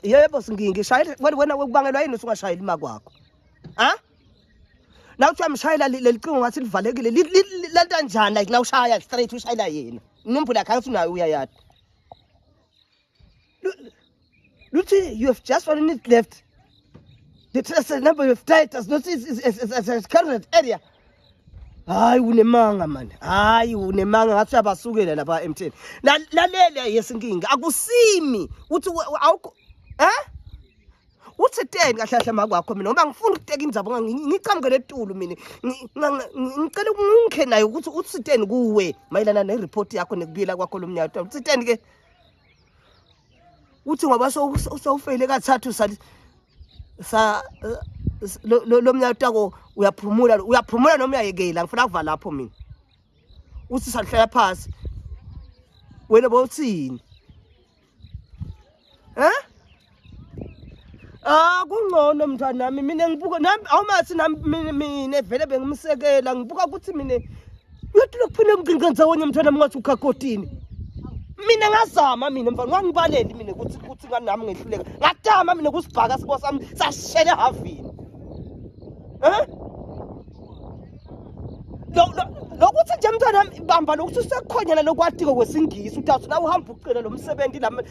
yebo singingi shayela wena wena ukubangelwa yini usungashayeli ima kwakho ha na kuthiwa mshayela lelicingo ngathi livalekile lenta njani like na ushaya straight ushayela yena inombolo yakhe angithi unayo uyayada luthi you have just one minute left the trace number you have tried does not is, is, is, is, is, is current area hayi unemanga mani hayi unemanga ngathi uyabasukela lapha emtheni lalele yesinkinga akusimi uthi awukho eh uthi ten kahle kahle makwakho mina ngoba ngifuna ukuteka indzaba ngiqhamuke letulu mina ngicela ukungikhe nayo ukuthi uthi ten kuwe mayelana ne report yakho nekubuyela kwakho lomnyaka uthi ten ke uthi ngoba sowufeyile kathathu sa sa lo mnyaka utako uyaphumula uyaphumula noma uyayekela ngifuna kuva lapho mina uthi salihlala phasi wena bowuthini eh Ah kungcono mntwana nami mina ngibuka nami awumathi nami mina vele bengimsekela ngibuka ukuthi mina uyathi lokuphila emgcinga ndzawonye mntwana nami ngathi ukhakotini mina ngazama mina mfana ngangibaleli mina ukuthi ukuthi ngani nami ngehluleka ngatama mina kusibhaka sibo sami sashele havini eh lokuthi nje mntwana bamba lokuthi usekhonyana lokwatiko kwesingisi udazi nawe uhamba ucela lo msebenzi